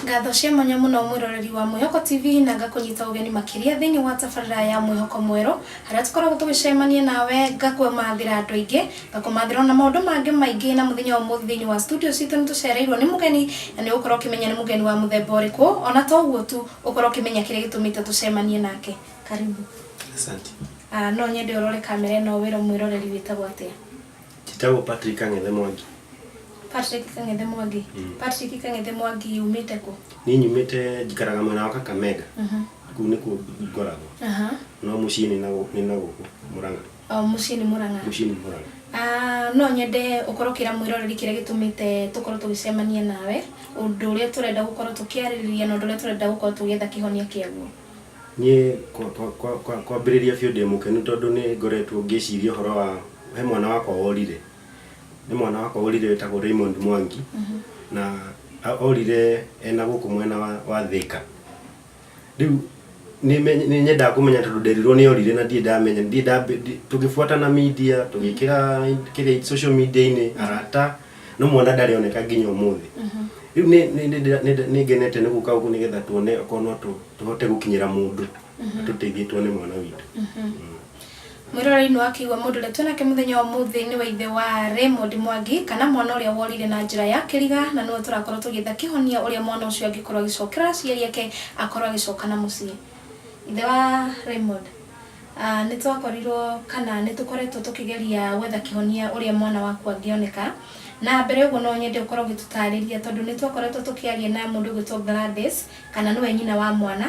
ngatho cia mwanya muno mwiroreri wa mwihoko tv na ngakunyita ugeni makiria thiini wa tabarira ya mwihoko mweru haria tukoragwo tugicemania nawe ngakumathira andu aingi ngakumathira ona maundu mangi maingi na muthenya wa muthi thiini wa studio citu ni tucereirwo ni mugeni na ni ukorwo ukimenya ni mugeni wa muthemba uriku ona to uguo tu ukorwo ukimenya kiria gitumite tucemanie nake Karibu. Asante. Ah, no nyende ũrore kamera ĩno wĩra mwĩroreri wĩtagwo atĩa? Njĩtagwo Patrick Ang'ethe Mwangi. Patrick Kang'ethe Mwangi. Mm. Patrick Kang'ethe Mwangi umĩte kũ? Niĩ nyumĩte njikaraga mwena wa Kakamega. Mhm. Kũu nĩkuo ngoragwo. Aha. No mũciĩ nĩ na gũ- nĩ na gũkũ Mũrang'a. Oh, mũciĩ nĩ Mũrang'a. Mũciĩ nĩ Mũrang'a. Ah, no nyende ũkorwo ũkĩra mwĩroreri kĩrĩa gĩtũmĩte tũkorwo tũgĩcemania nawe, ũndũ ũrĩa tũrenda gũkorwo tũkĩarĩrĩria na ũndũ ũrĩa tũrenda gũkorwo tũgĩetha kĩhonia kĩaguo. Niĩ kwambĩrĩria biũ ndĩ mũkenu tondũ nĩ ngoretwo ngĩciria ũhoro wa, he mwana wakwa worire, he mwana wakwa worire wĩtagwo Raymond Mwangi, na orire e na gũkũ mwena wa Thĩka. Rĩu nĩ nyendaga kũmenya tondũ nderirwo nĩ orire na ndirĩ ndamenya, tũgĩbuatana media, tũgĩkĩra kĩrĩa social media-inĩ, arata, no mwana ndarĩ oneka nginya ũmũthĩ rĩu nĩ- nĩ- nĩ- nĩ- nĩ- nĩ ngenete nĩ gũka ũguo nĩgetha tuone okorwo no tũ- tũhote gũkinyĩra mũndũ atũteithie tuone mwana witũ mwĩrorei nĩ wakĩigua mũndũ ũrĩa twĩnake mũthenya wa ũmũthĩ nĩ wa ithe wa Raymond Mwangi kana mwana ũrĩa worire na njĩra ya kĩriga na nĩwe tũrakorwo tũgĩetha kĩhonia ũrĩa mwana ũcio angĩkorwo agĩcokera aciari ake akorwo agĩcoka na mũciĩ ithe wa Raymond Nĩ twakorirũo kana nĩ tũkoretwo tũkĩgeria gwetha kĩhonia ũrĩa mwana waku angĩoneka. Na mbere ya ũguo no nyende ũkorũo ũgĩtũtaarĩria tondũ nĩ twakoretwo tũkĩaria na mũndũ ũgwĩtwo Gladys, kana nĩwe nyina wa mwana,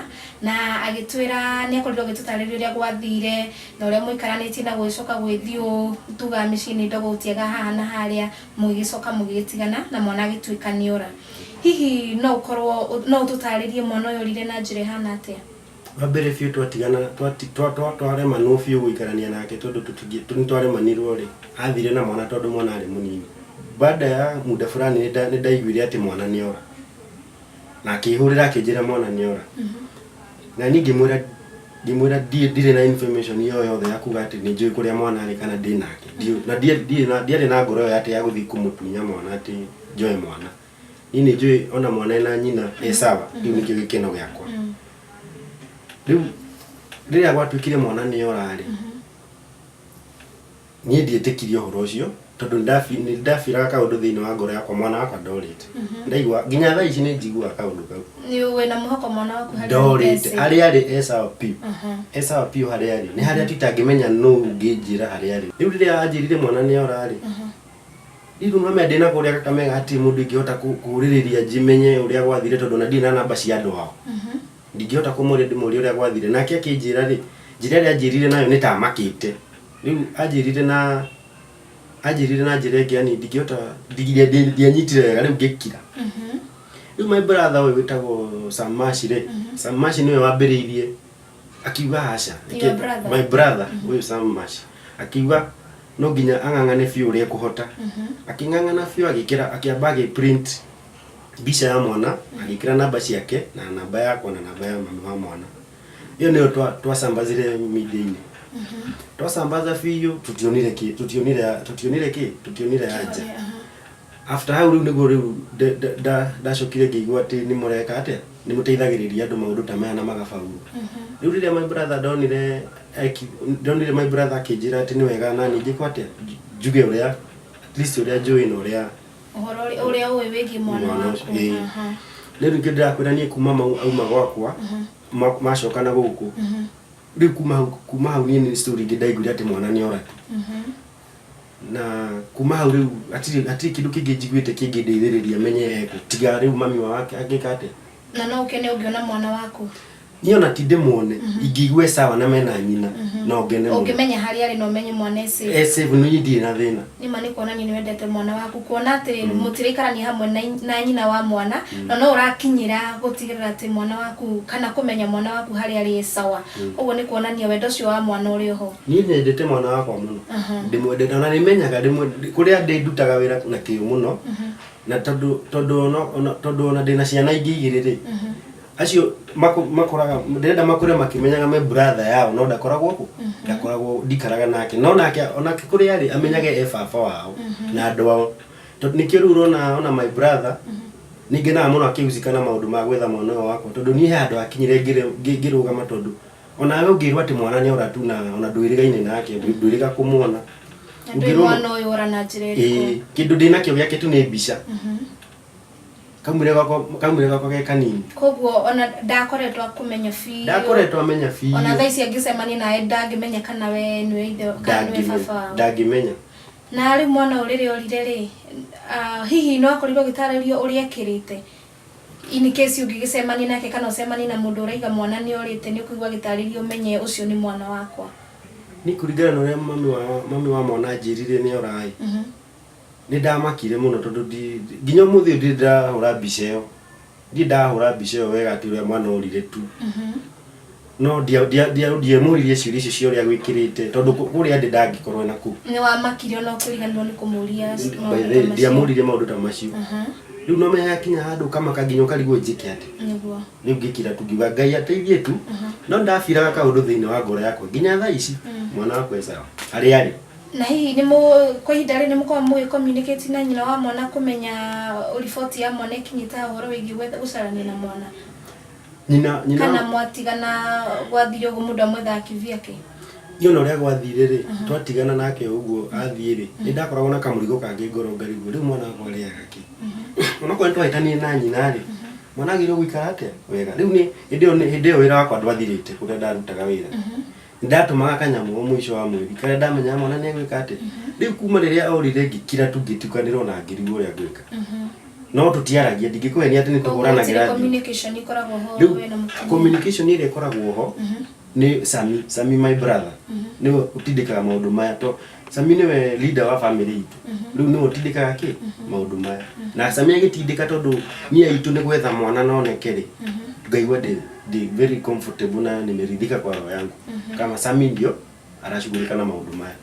na agĩtwĩra nĩ akorirũo agĩtũtaarĩria ũrĩa gwathire na ũrĩa mwaikaranĩtie na gũgĩcoka gũgĩthiĩ ũũ, tugaga mĩciĩ nĩ ndogo gũtiagaga haha na harĩa, mũgĩgĩcoka mũgĩgĩtigana na mwana agĩtuĩka nĩ ora. Hihi no ũkorũo, no ũtũtaarĩrie mwana ũyũ orire na njĩra ĩhana atĩa? Wa mbere biũ twatigana, twati- twa- twa- twaremanwo biũ gũikarania nake tondũ tũtingĩ- tũ- nĩtwaremanirwo-rĩ, athire na mwana tondũ mwana arĩ mũnini. Baada ya muda fulani nĩnda- nĩndaiguire atĩ mwana nĩora. Na akĩhũrĩra akĩnjĩra mwana nĩora. Na niĩ ngĩmwĩra- ngĩmwĩra ndirĩ ndirĩ na information ĩyo yothe ya kuga atĩ nĩnjũĩ kũrĩa mwana arĩ kana ndĩ nake. Ndiũ- na ndiarĩ- ndirĩ na- ndiarĩ na ngoro ĩyo atĩ ya gũthiĩ kũmũtunya mwana atĩ njoe mwana. niĩ nĩ njũĩ ona mwana ena nyina e sawa rĩu nĩkĩo gĩkeno gĩakwa rĩu rĩrĩa gwatuĩkire mwana nĩ orarĩ niĩ ndietĩkirie ũhoro ũcio tondũ nĩndafi- nĩndafiraga kaũndũ thĩinĩ wa ngoro yakwa mwana wakwa ndorĩte ndaigua nginya thaa ici nĩ njiguaga kaũndũ kau Nĩ- wĩna mũhaka mwana waku harĩa ndorĩte Esau. harĩa arĩ e sawa piũ Aha. e sawa piũ harĩa arĩ nĩ harĩa tu itangĩmenya nũ ũngĩnjĩra harĩa arĩ rĩu rĩrĩa anjĩrire mwana nĩ orarĩ Ndindu mame ndina kuria kakamega ati mundu ingihota kuririria njimenye uria gwathire tondu na ndina namba cia andu ao ndingihota kumuria ndimurie uria gwathire nake akinjira ri njira iria anjirire nayo nitamakite riu anjirire na anjirire na njira ingi yani ndingihota ndianyitire wega riu ngikira riu my brother uyu witagwo Sam Mash ri Sam Mash niwe wambiriirie Akiuga aca. Your Reke- brother. My brother, ũyũ Sam Mash. Akiuga no nginya ang'ang'ane biũ ũrĩa ekũhota. Akĩng'ang'ana biũ agĩkĩra akĩamba agĩprint mbica ya mwana agĩkĩra namba ciake na namba yakwa na namba ya mami wa mwana. Ĩyo nĩyo twa- twacambazire media-inĩ. Twacambaza biũ tũtionire kĩ tũtionire tũtionire kĩ tũtionire anja. After hau rĩu nĩguo rĩu ndacokire ngĩigua atĩ nĩ mũreka atĩa, nĩ mũteithagĩrĩria andũ maũndũ ta maya na magabaurwo. Rĩu rĩrĩa my brother ndonire, ndonire my brother akĩnjĩra atĩ nĩ wega naniĩ njĩkwo atĩa, njuge ũrĩa, at least ũrĩa njũĩ na ũrĩa, ũhoro ũrĩa ũĩ wĩgiĩ mwana Mwana waku. ũcio, ĩĩ. Aha. rĩu ningĩ ndĩrakwĩra niĩ kuma mau auma gwakwa, ma- macoka na gũkũ, rĩu kuma hau, kuma hau niĩ nĩ story ingĩ ndaiguire atĩ mwana nĩ ora tu. na kuma hau rĩu hatirĩ hatirĩ kĩndũ kĩngĩ njiguĩte kĩngĩndĩithĩrĩria menye ekũ tiga rĩu mami wao ake- angĩka atĩa na no ũkene ũngĩona mwana waku niĩ ona ti ndĩmuone ingĩigua e sawa na mena nyina no ngene mũno ũngĩmenya harĩa arĩ na ũmenye mwana ece e safe niĩ ndirĩ na thĩna nĩma nĩ kuonania nĩ wendete mwana waku kuona atĩ mũtiraikarania hamwe na, na nyina wa mwana na no ũrakinyĩra gũtigĩrĩra atĩ mwana waku kana kũmenya mwana waku harĩa arĩ e sawa ũguo nĩ kuonania wendo ũcio wa mwana ũrĩ oho Niĩ nyendete mwana wakwa mũno ndĩmwendete ona nĩmenyaga rĩmwe ndĩ- kũrĩa ndĩ ndutaga wĩra na kĩyo mũno na tondũ tondũ ona- ona- tondũ ona ndĩna ciana ingĩ igĩrĩ rĩ acio makũ- makũraga ndĩrenda makũre makĩmenyaga me brother yao no ndakoragwo kũ ndakoragwo ndikaraga nake no nake onake kũrĩa arĩ amenyage e baba wao na andũ ao tondũ nĩkĩo rĩu ũrona ona my brother nĩngenaga mũno akĩhusika na maũndũ ma gwetha mwana ũyũ wakwa tondũ niĩ he handũ hakinyire ngĩrĩ- ngĩ- ngĩrũgama tondũ O nawe ũngĩrwo atĩ mwana nĩ ora tu na ona ndwĩrĩgaine nake, ndwĩ- ndwĩrĩga kũmuona. Na ndũĩ Ũngĩrwo- mwana ũyũ ora na njĩra Ĩĩ, ĩrĩkũ. kĩndũ ndĩ nakĩo gĩake tu nĩ mbica Mhm. kaumire gwakwa kaumire gwakwa ge kanini Koguo ona ndakoretwo akũmenya biũ. ndakoretwo amenya biũ Ona thaa ici angĩcemania nawe ndangĩmenya kana we nĩwe ithe kana nĩwe Ndangĩmenya- baba wao. ndangĩmenya Na rĩu mwana ũyũ rĩrĩa orire rĩ, ah, hihi nĩ wakorirwo ũgĩtarĩrio ũrĩa ekĩrĩte? In case ũngĩgĩcemania nake kana ũcemanie na mũndũ ũraiga mwana nĩorĩte nĩũkũigua agĩtarĩria ũmenye ũcio nĩ mwana wakwa. Niĩ kũringana na ũrĩa mami wa mami wa mwana anjĩrire nĩora-ĩ, nĩndamakire mũno tondũ ndi nginya ũmũthĩ ũyũ ndirĩ ndĩrahũra mbica ĩyo, ndirĩ ndahũra mbica ĩyo wega atĩ ũrĩa mwana orire tu. no ndia- ndia- ndia- ndiamũririe ciũria icio cia ũrĩa gwĩkĩrĩte tondũ kũ- kũrĩa ndĩ ndangĩkorwo na kuu nĩ wamakire ona ũkĩriganirwo nĩ kũmũria maũndũ ta macio. ndiamũrire maũndũ ta macio Mhm, rĩu no menya yakinya handũ ũkamaka nginya ũkarigwo njĩke atĩ nĩguo rĩu ngĩkira tu ngiuga ngai ateithie tu no ndabiraga kaũndũ thĩinĩ wa ngoro yakwa nginya thaa ici mwana wakwa e sawa harĩa arĩ na hihi nĩ mũ- kwa ihinda rĩu nĩ mũkoragwo mũgĩ communicate na nyina wa mwana kũmenya riboti ya mwana ĩkinyĩte ha ũhoro wĩgiĩ gwetha- gũcarania na mwana nyina nyina kana mwatigana gwathire ũguo mũndũ amwethaga kivi yake iona ũrĩa gwathire rĩ twatigana nake ũguo athiĩ rĩ nĩ ndakoragwo na kamũrigo kangĩ ngoro ngarigwo rĩu mwana wakwa arĩaga kĩ onakorwo nĩ twahĩtanire na nyina rĩ mwana agĩrĩirwo gũikara atĩa wega rĩu nĩ hĩndĩ ĩyo nĩ- hĩndĩ ĩyo wĩra wakwa ndwathirĩte ũrĩa ndarutaga wĩra ndatũmaga kanyamũ mũico wa mweri karĩa ndamenyaga mwana nĩ egwĩka atĩ rĩu kuma rĩrĩa orire ngĩkira tu ngĩtukanĩrwo na ngĩrigwo ũrĩa ngwĩka no tũtiaragia ndingĩkũhe nĩ atĩ nĩ Koguo gũtirĩ tũhũranagĩra thimũ communication ikoragwo ho rĩu we na mũtumia. communication ĩrĩa ĩkoragwo ho nĩ sami sami my brother nĩwe ũtindĩkaga maũndũ maya to sami nĩwe leader wa family itũ rĩu nĩwe ũtindĩkaga kĩ maũndũ maya na sami agĩtindĩka tondũ niĩ aitũ nĩ gwetha mwana noneke rĩ ngaigua ndĩ ndĩ very comfortable na nimeridhika kwa roho yangu kama sami ndio arashughulika na maũndũ maya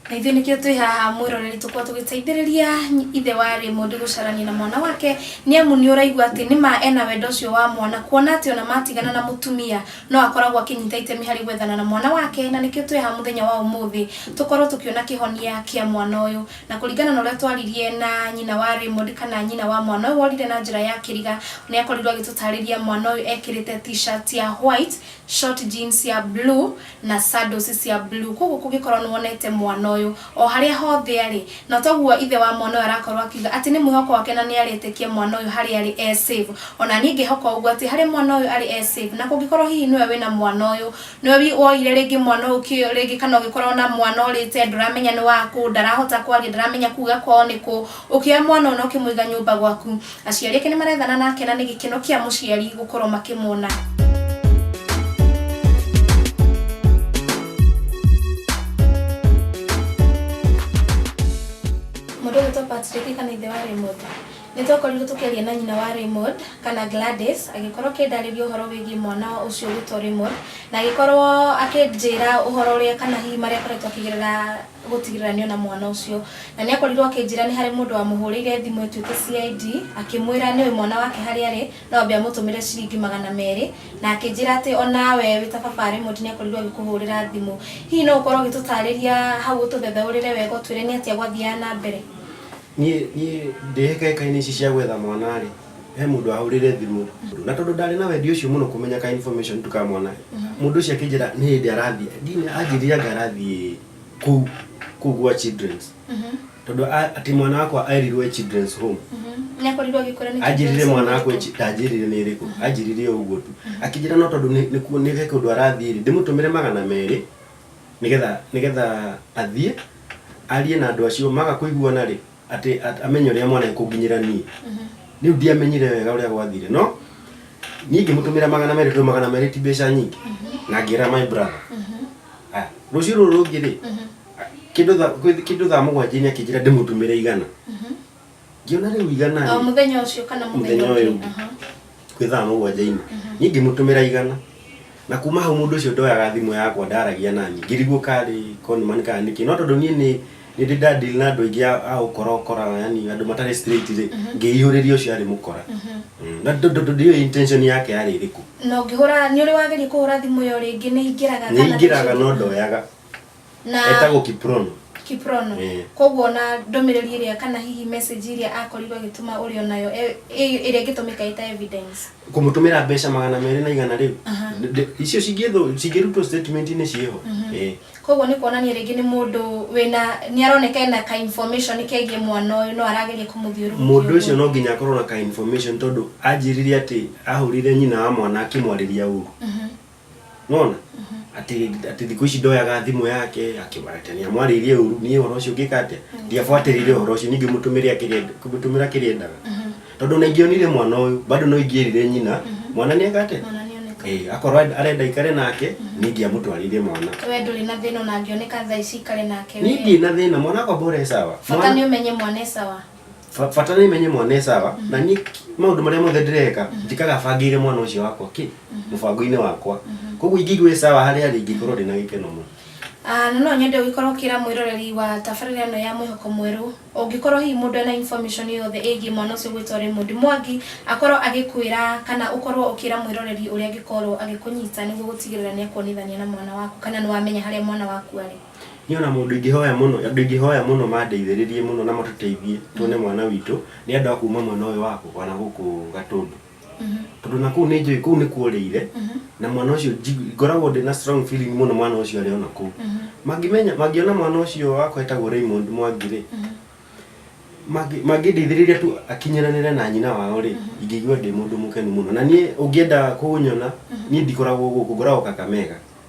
na ithuĩ nĩkĩo twĩ haha mwĩroreri tũkorwo tũgĩteithĩrĩria ithe wa Raymond gũcarania na mwana wake nĩ amu nĩ ũraigua atĩ nĩ ma ena wendo ũcio wa mwana kuona atĩ ona matigana na mũtumia No akoragwo akĩnyita itemi harĩ gwethana na mwana wake, na nĩkĩo twĩ haha mũthenya wa ũmũthĩ tũkorwo tũkĩona kĩhonia kĩa mwana ũyũ. Na kũringana na ũrĩa twaririe na nyina wa Raymond kana nyina wa mwana ũyũ worire na njĩra ya kĩriga, nĩ akorirwo agĩtũtarĩria mwana ũyũ ekĩrĩte t-shirt ya white, short jeans ya blue na sandals cia blue. Kwoguo kũngĩkorwo nĩ wonete mwana ũyũ, o harĩa hothe arĩ, na toguo ithe wa mwana ũyũ arakorwo akiuga atĩ nĩ mwĩhoko wake na nĩ arĩtĩkia mwana ũyũ harĩa arĩ e save. O na niĩ ngĩhoka ũguo atĩ harĩa mwana ũyũ arĩ e save, na kũngĩkorwo hihi nĩwe wĩna mwana ũyũ, nĩwe woire rĩngĩ mwana ũyũ kĩ rĩngĩ kana ũngĩkorwo na mwana ũrĩte ndũramenya nĩ waku, ndarahota kwaria, ndaramenya kuga kwao nĩ kũ, ũkĩoya mwana ũyũ na ũkĩmũiga nyũmba gwaku, Aciari ake nĩ marethana nake na nĩ gĩkeno kĩa mũciari gũkorwo makĩmwona. Patrick kana ithe wa Raymond nĩ twakorirwo tũkĩaria na nyina wa Raymond kana Gladys agĩkorwo akĩndarĩria ũhoro wĩgiĩ mwana ũcio wĩtwo Raymond na agĩkorwo akĩnjĩra ũhoro ũrĩa kana hihi marĩa akoretwo akĩgerera gũtigĩrĩra nĩ ona mwana ũcio na nĩ akorirwo akĩnjĩra nĩ harĩ mũndũ wamũhũrĩire thimũ ĩtuĩke CID akĩmwĩra nĩwe mwana wake harĩa arĩ no ambe amũtũmĩre ciringi magana merĩ na akĩnjĩra atĩ onawe wĩ ta baba Raymond nĩ akorirwo agĩkũhũrĩra thimũ hihi no ũkorwo ũgĩtũtarĩria hau ũtũthethaũrĩre wega ũtwĩre nĩ atĩa gwathiaga na mbere niĩ niĩ ndĩ hĩkaĩkainĩ ici cia gwetha mwana rĩ he mundu ahurire thimu na tondu ndari na wendi ucio muno kumenya ka information tukamwona mundu ucio akinjira ni hindi arathi ndini anjirire anga arathi ku ku gwa children's tondu a- ati mwana wakwa airirwe children's home nyakorirwo gikora ni anjirire mwana wakwa chi- ndanjirire ni iriku anjirire o uguo tu akinjira no tondu ni ni ku- ni he kundu arathi ri ndimutumire magana meri nigetha nigetha athie arie na andu acio maga kuiguana ri atĩ at- amenye ũrĩa mwana ekũnginyĩra niĩ rĩu ndiamenyire wega ũrĩa gwathire no niĩ ngĩmũtũmĩra magana merĩ tondũ magana merĩ ti mbeca nyingĩ na ngĩra my brother Ah, rũciũ rũrũ rũngĩ rĩ ah, kĩndũ tha- kwĩ- kĩndũ thaa mũgwanjĩnĩ akĩnjĩra ndĩmũtũmĩre igana ngĩona rĩu igana O rĩ, mũthenya ũcio kana mũthenya mũthenya ũyũ ũngĩ. ũngĩ Aha. kwĩ thaa mũgwanja ina niĩ ngĩmũtũmĩra igana na kuma hau mũndũ ũcio ndoyaga thimũ yakwa ndaragia nani ngĩrigwo karĩ conman kana nĩkĩ no tondũ niĩ nĩ nĩndĩ ndadil na andũ aingĩ a- a ũkorakora yani andũ matarĩ straight rĩ ngĩihũrĩria ũcio arĩ mũkora Mm, na ndũ- ndũ- ndũ- ndiũĩ intention yake yarĩ ĩrĩkũ na ũngĩhũra nĩ ũrĩ wageria kũhũra thimũ ĩyo rĩngĩ nĩ ĩingĩraga nĩ kana ingĩraga ndĩcũnge? no ndoyaga na etagwo kiprono kiprono Eh. koguo na ndũmĩrĩri ĩrĩa kana hihi message ĩrĩa akorirwo agĩtũma ũrĩ o nayo e- ĩ- ĩrĩa ĩngĩtũmĩka ĩta evidence kũmũtũmĩra mbeca magana merĩ na igana rĩu Aha. Ndĩ- icio cingĩthũ- cingĩrutwo statementinĩ ciĩho Eh. koguo nĩ kuonania rĩngĩ nĩ mũndũ wĩna nĩ aroneka ena ka information kegiĩ mwana ũyũ no arageria kũmũthiũrũrũkia mũndũ ũguo. ũcio no nginya akorwo na ka information tondũ anjĩrire atĩ ahũrire nyina wa mwana akĩmwarĩria ũru nona ati ati thiku ici ndoyaga thimu yake akimaratania mwaririe uru ni horo ucio ngika atia ndiafuatirire horo ucio ningi mutumire akirenda kumutumira kirendaga tondu na ingionire mwana uyu bado no ingierire nyina mwana ni eka atia mwana nĩ oneka eh akorwo arenda ikare nake ningi amutwarire mwana we ndũrĩ na thĩna ona angĩoneka thaa ici ikare nake we. ni ndina thina mwana akwa bora esawa bata nĩ ũmenye mwana e sawa Ba- bata nä menye mwana ä sawa na niä maå ndå marä a mothe ndäreka njikaga bangä ire mwana å cio wakwa kä må bango-inä wakwa koguo ingäigua ä sawa harä arä ingä korwo ndä na gä keno må Ah, na no nyende ũgĩkorwo ũkĩra mwĩroreri wa tabarĩra ĩno ya mwĩhoko mwerũ ũngĩkorwo hihi mũndũ ena information yothe ĩgiĩ mwana ũcio gwĩtwo Raymond Mwangi akorwo agĩkwĩra kana ũkorwo ũkĩra mwĩroreri ũrĩa angĩkorwo agĩkũnyita nĩguo gũtigĩrĩra nĩ akuonithania na mwana waku kana nĩ wamenya harĩa mwana waku arĩ Niĩ ona mũndũ ingĩhoya mũno, andũ ingĩhoya mũno mandeithĩrĩrie mũno na matũteithie tuone mwana witũ, nĩ andũ a kuma mwena ũyũ wa gũkũ, wana gũkũ Gatũndũ. Tondũ ona kũu nĩ njũĩ kũu nĩ kũũrĩire, na mwana ũcio nji- ngoragwo ndĩna strong feeling mũno mwana ũcio arĩ ona kũu. Mangĩmenya, mangĩona mwana ũcio wakwa etagwo Raymond Mwangi rĩ, mangĩ- mangĩndeithĩrĩria tu akinyanĩre na nyina wao rĩ, ingĩigua ndĩ mũndũ mũkenu mũno. Na niĩ ũngĩenda kũnyona, niĩ ndikoragwo gũkũ, ngoragwo Kakamega.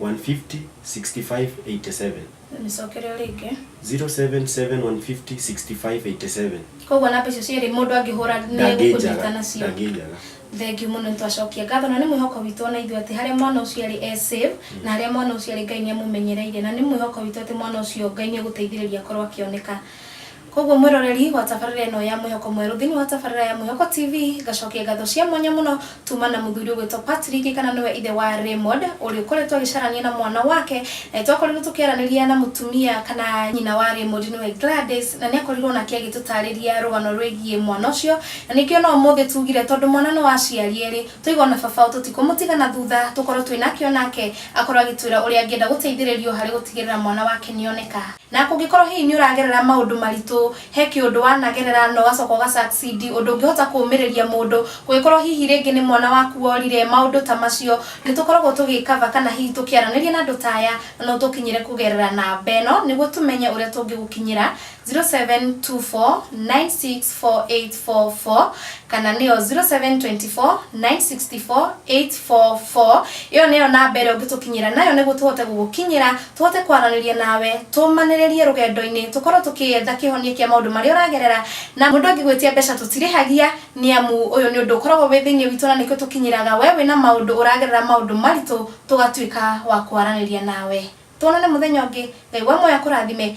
150 65 87 nĩcokereo rĩngĩ 077 150 65 87 koguo namba icio cierĩ mũndũ angĩhũra nĩegũkũnyita ndangĩnjaga nacio ndangĩnjaga thengiũ mũno nĩ twacokia ngatho na nĩ mwĩhoko witũ ona ithuĩ atĩ harĩa mwana ũcio arĩ e safe na harĩa mwana ũcio arĩ ngai nĩ amũmenyereire na nĩ mwĩhoko witũ atĩ mwana ũcio ngai nĩ egũteithĩrĩria akorwo akĩoneka Koguo mwĩroreri wa tabarĩra ĩno ya Mwĩhoko Mwerũ thĩinĩ wa tabarĩra ya Mwĩhoko TV, ngacokia ngatho cia mwanya mũno tuma na mũthuri ũgwĩtwo Patrick kana nĩwe ithe wa Raymond ũrĩa ũkoretwo agĩcarania na mwana wake na nĩtwakorirwo tũkĩaranĩria na mũtumia kana nyina wa Raymond nĩwe Gladys na nĩakorirwo nake agĩtũtarĩria rũgano rwĩgiĩ mwana ũcio na nĩkĩo no ũmũthĩ tugire tondũ mwana nĩ wa aciari erĩ tũiga ona baba tũtikũmũtiga na thutha tũkorwo twĩ nake onake akorwo agĩtwĩra ũrĩa angĩenda gũteithĩrĩrio harĩ gũtigĩrĩra mwana wake nĩoneka Na kũngĩkorũo hihi nĩ ũragerera maũndũ maritũ, he kĩũndũ wanagerera na ũgacoka ũga succeed, ũndũ ũngĩhota kũũmĩrĩria mũndũ, kũngĩkorũo hihi rĩngĩ nĩ mwana waku worire, maũndũ ta macio, nĩ tũkoragwo tũgĩ cover kana hihi tũkĩaranĩria na andũ ta aya, na no ũtũkinyĩre kũgerera namba ĩno nĩguo tũmenye ũrĩa tũngĩgũkinyĩra, 0724964844 kana nĩyo 0724964844. Ĩyo nĩyo namba ĩrĩa ũngĩtũkinyĩra nayo nĩguo tũhote gũgũkinyĩra. Tũhote kwaranĩria nawe, tũũmanĩrĩrie rũgendo-inĩ, tũkorwo tũkĩetha kĩhonia kĩa maũndũ marĩa ũragerera, na mũndũ angĩgwĩtia mbeca tũtirĩhagia, nĩ amu ũyũ nĩ ũndũ ũkoragwo wĩ thĩinĩ witũ na nĩkĩo tũkinyĩraga we wĩna maũndũ ũragerera maũndũ maritũ tũgatuĩka wa kwaranĩria nawe. Tuonane mũthenya ũngĩ, Ngai wa muoyo akũrathime.